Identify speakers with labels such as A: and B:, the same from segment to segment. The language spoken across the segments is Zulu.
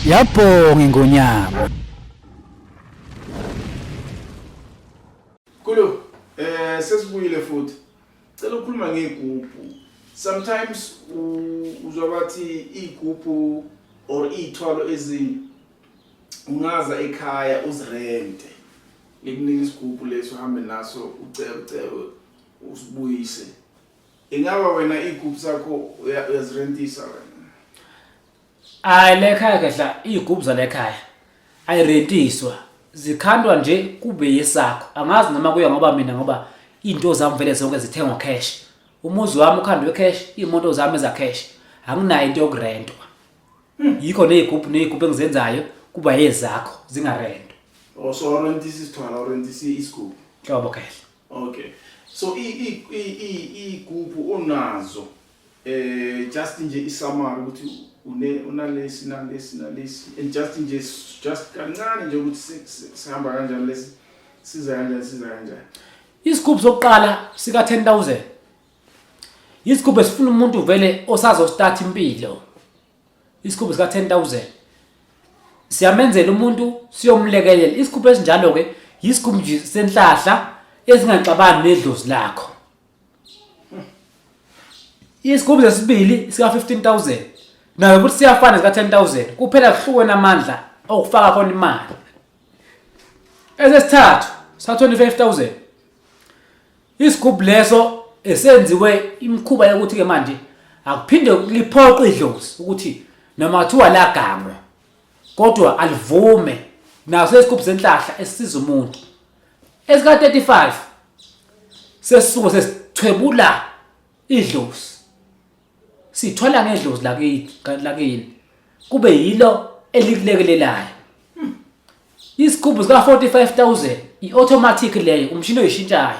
A: Yabhonga ingonyama.
B: Kulo eh sesibuyile futhi. Cela ukhuluma ngegubhu. Sometimes uzwa bathi igubhu or ithwalo ezinye ungaza ekhaya uzirente. ngikunika isigubhu leso uhambe naso ucebe usibuyise ingaba wena iy'gubhu zakho uyazirentisa wena hayi
A: lekhaya kahla iy'gubhu zalekhaya ayirentiswa zikhandwa nje kube yesakho angazi noma kuya ngoba mina ngoba iy'nto zami vele zonke zithengwa cash umuzi wami ukhandwe cash iy'moto zami ezacash anginayo into yokurentwa Hmm. Yikho nezigubhu nezigubhu engizenzayo kuba ezakho zingarento. Oh so rent
B: isithwala or rent isigubhu. Hlobo kahle.
A: Okay.
B: So i i i i igubhu onazo eh just nje isamari ukuthi une unalesi nalesi nalesi and just nje just kancane nje ukuthi sihamba kanjani lesi siza kanjani siza kanjani. Isigubhu
A: sokuqala sika 10000. isigubhu esifuna umuntu vele osazostart impilo isigubhu sika 10000 siyamenzela umuntu siyomlekelela isigubhu esinjalo ke yisigubhu nje senhlahla ezingaxabani nedlozi lakho isigubhu sesibili sika 15000 nayo ukuthi siyafana sika 10000 kuphela kuhlukene amandla okufaka khona imali esesithathu sa 25000 Isigubhu leso esenziwe imikhuba yokuthi-ke manje akuphinde liphoqe idlozi ukuthi noma kuthiwa lagangwa kodwa alivume naso isigubhu senhlahla esisiza umuntu esika-35 sesisuke sesithwebula idlozi sithola ngedlozi lakini lakini kube yilo elikulekelelayo hmm. isigubhu sika 45000 iautomatic leyo umshini oyishintshayo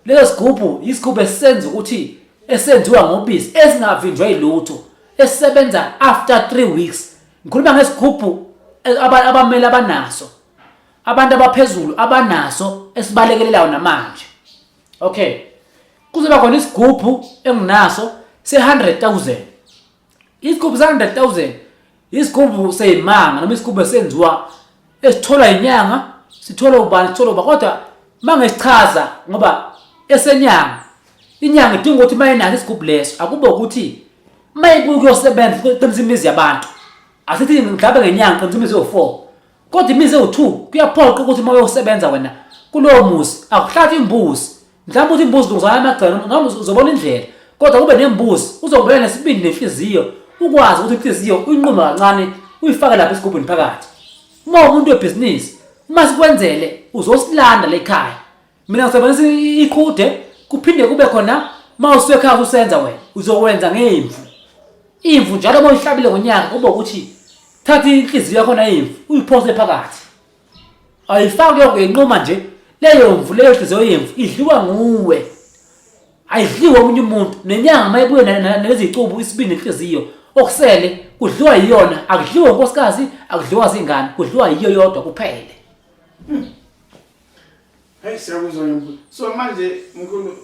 A: leso sigubhu isigubhu esenza ukuthi esenziwa ngobisi esingavinjwa ilutho esebenza after 3 weeks ngikhuluma ngesigubhu eh, abamele abanaso abantu abaphezulu abanaso esibalekelelayo namanje okay kuzoba khona isigubhu enginaso se-100,000 isigubhu se-100,000 isigubhu seyimanga noma isigubhu esenziwa esitholwa yinyanga sitholwa ubani sitholwa uba kodwa uma ngisichaza ngoba esenyanga inyanga idinga ukuthi uma inako isigubhu leso akube ukuthi uma ibuye kuyosebenza qinisa imizi yabantu asithi mhlawumbe ngenyanga qinisa imizi yo-four kodwa imizi ewu-two kuyaphoqa ukuthi uma uyosebenza wena kulowo muzi akuhlathi imbuzi mhlawumbe uthi imbuzi lungizana amagcelo ngabe uzobona indlela kodwa kube nembuzi uzongibela nesibindi nenhliziyo ukwazi ukuthi inhliziyo uyinqume kancane uyifake lapha esigubhini phakathi uma umuntu webhizinisi uma sikwenzele uzosilanda lekhaya mina ngisebenzisa i- iqhude kuphinde kube khona uma usekhaya kusenza wena uzokwenza ngemvu imvu njalo uma uyihlabile ngonyaka kube ukuthi thatha inhliziyo yakhona imvu uyiphose phakathi ayifaki lokho yenquma nje leyo mvu leyo nhliziyo yemvu idliwa nguwe ayidliwa omunye umuntu nenyanga uma ibuye na- na- nezicubu isibindi nenhliziyo okusele kudliwa yiyona akudliwa inkosikazi akudliwa zingane kudliwa yiyo yodwa kuphele
B: Hey siyakuzwa ngempela. So manje mkhulu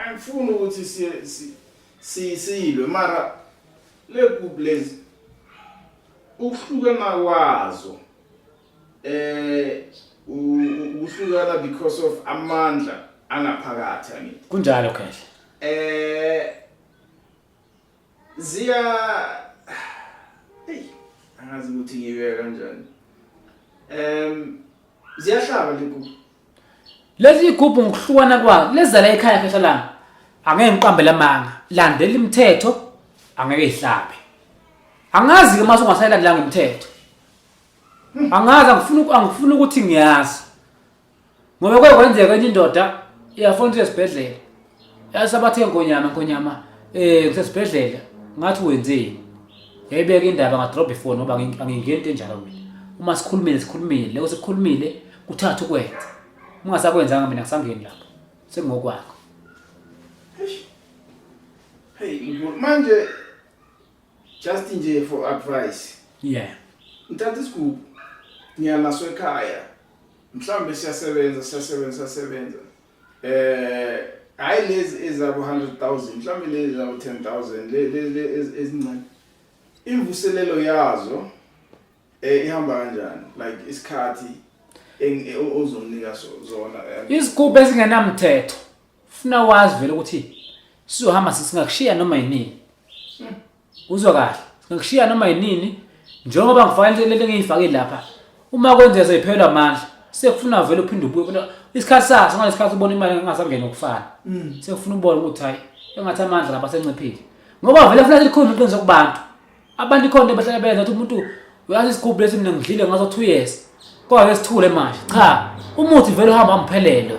B: angifuni ukuthi siye siyilwe mara le group lezi ukuhlukana kwazo eh ukuhlukana because of amandla angaphakathi angithi. Kunjalo khehla.
A: Eh
B: Ziya Hey, angazi ukuthi ngiyibeka kanjani. Em ziyahlaba lekuku. Lezi
A: igubhu ngokuhlukana kwazo lezala ekhaya phesha lami. Angeke ngiqambe lamanga. Landela imithetho angeke ihlabe. Angazi ke mase ungasayilandela ngemithetho. Angazi angifuni angifuni ukuthi ngiyazi. ngoba kuye kwenzeka enye indoda iyafona ukuthi esibhedlela yasabathe nkonyama nkonyama um ngisesibhedlela ngathi wenzeni yayibeka indaba ngadrobha ifoni ngoba angingeni into enjalo mina uma sikhulumile sikhulumile leko sekukhulumile kuthatha ukwenza ungasakwenzanga mina ngisangeni lapho sengingokwakho
B: hey manje just nje for advice yeah
A: ngithatha isigubhu
B: ngiya naso ekhaya mhlawumbe siyasebenza siyasebenza siyasebenza eh hayi lezi ezabo 100000 mhlawumbe lezi zabo 10000 lezi ezincane imvuselelo yazo eh ihamba kanjani like isikhathi eh, ozomnika zona eh. izigubhu
A: ezingenamthetho ufuna wazi vele ukuthi sizohamba sisingakushiya noma yini hmm. uzwa kahle ngikushiya noma yinini njengoba ngifanele lento engiyifake lapha uma kwenzeka seyiphelwa amandla sekufuna vele uphinde ubuye kodwa isikhathi saso ngale sikhathi ubona imali engasangeni ukufana Mm. sekufuna ubone ukuthi hayi engathi amandla lapha senciphile ngoba vele kufanele likhona iqiniso kubantu abantu ikhona into bahlala benza ukuthi umuntu uyazi isigubhu lesi mina ngidlile ngaso two years kodwa ke sithule manje cha umuthi vele uhamba mphelele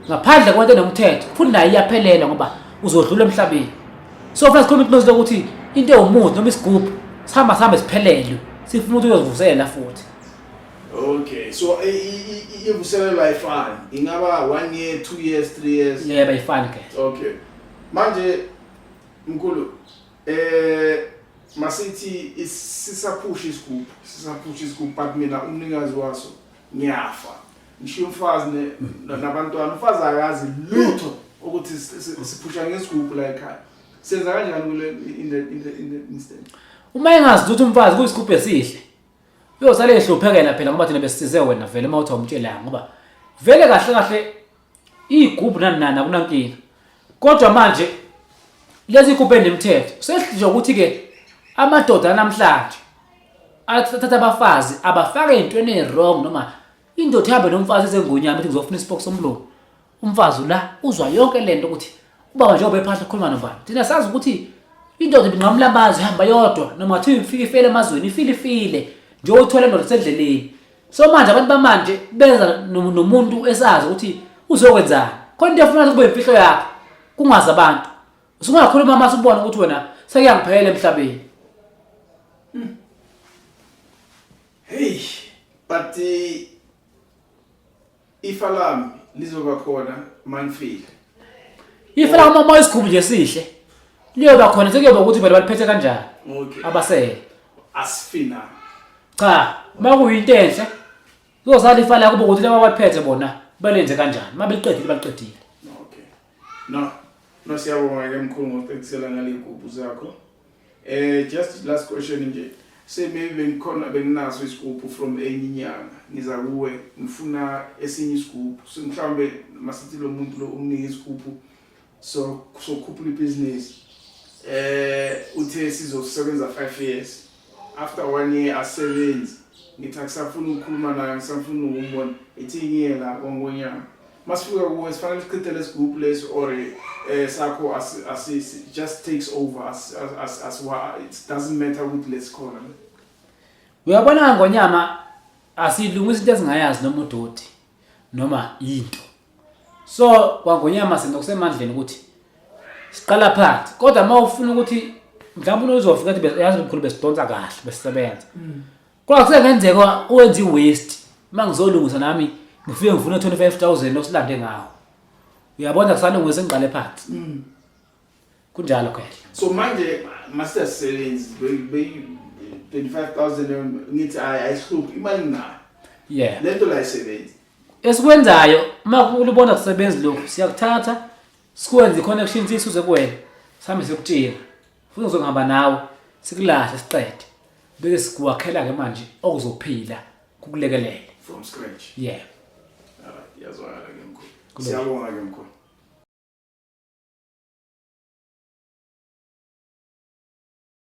A: ngaphandle kwento enomthetho futhi naye iyaphelela ngoba uzodlula emhlabeni so funa sikhuluma into lokuthi into ewumuthi noma isigubhu sihamba sihambe siphelelwe sifuna ukuthi uyozivuselela futhi okay
B: so ivuselelwa ayifani ingaba one year two years three years yebo ayifani ke
A: okay
B: manje mkhulu Eh masithi sisaphusha isigubhu, sisaphusha isigubhu but mina umnikazi waso ngiyafa. Ngishiya umfazi ne- na- nabantwana, umfazi akazi lutho ukuthi si- si- siphusha ngesigubhu la ekhaya. Senza kanjani kule in the in the in the instance? uma engazi ukuthi
A: umfazi kuyisigubhu esihle uyosale ehluphekela phela ngoba thina besisize wena vele uma uthi awumtshelanga ngoba vele kahle kahle Iyigubhu nani nani akunankinga. Kodwa manje lezi igubhu enemthetho sesihlinje ukuthi ke amadoda namhlanje athatha abafazi abafake ezintweni ezirong noma indoda ihambe nomfazi ezengunyama ithi ngizofuna isipoko somlomo. Umfazi la uzwa yonke lento ukuthi ubaba nje obephahla ukhuluma nobani. Thina sazi ukuthi indoda ibinqamula amazwi ihamba yodwa noma kuthiwa ifike ifele emazweni ifile ifile nje uthola indoda sendleleni so manje abantu bamanje benza nomuntu esazi ukuthi uzokwenzani khona into efuna kube imfihlo yakho kungazi abantu usungakhuluma uma subona ukuthi wena sekuyangiphelela emhlabeni
B: hmm. hey but eh, Ifa lami lizoba khona manifile.
A: Ifa la uma isikhulu nje sihle. Liyoba khona sekuyoba ukuthi vele baliphethe kanjani. Okay. Abasele. Asifina.
B: Cha,
A: makuyinto enhle. Kuzosala ifa la kuba ukuthi laba baliphethe bona balenze kanjani. Mabeqedile baqedile. Okay.
B: No, no siyabonga ke mkhulu ngokuqekisela ngaley'gubhu zakho. Eh just last question nje. Say maybe bengikhona benginaso isigubhu from enye inyanga. Ngiza kuwe ngifuna esinye isigubhu. So mhlawumbe masithi lo muntu lo umnike isigubhu so sokhuphula ibhizinisi eh uthe sizosebenza 5 years after one year asebenzi ngithi akusafuni ukukhuluma naye ngisafuna ukumbona ithi ngiye la kongonyama masifika kuwe sifanele sichithe lesigubhu lesi or eh sakho as as it just takes over as as as what it doesn't matter ukuthi lesikhona uyabona
A: ngonyama asilungisa into esingayazi noma udoti noma into so kwangonyama sinokusemandleni ukuthi siqala phansi kodwa uma ufuna ukuthi mhlawumbe unozofika ukuthi yazi mkhulu besidonsa kahle besisebenza mm. Kodwa kusengenzeka uwenze i-waste uma ngizolungisa nami ngifike ngifune 25000 osilande ngawo. Uyabona kusalungisa ingqale phansi. Mm. Kunjalo khehla. So manje
B: master sebenzi beyi 25000 ngithi ayihluphi imali ngayo. Yeah. Lento
A: la isebenzi.
B: Esikwenzayo
A: uma ulibona kusebenzi lokho siyakuthatha sikwenze i-connection sisuze kuwena. Sambe sikutshela. futhi ngizohamba nawe sikulahle siqede bese sikuwakhela ke manje okuzophila kukulekelele
B: from scratch yeah alright yazwakala ke mkhulu siyabonga ke mkhulu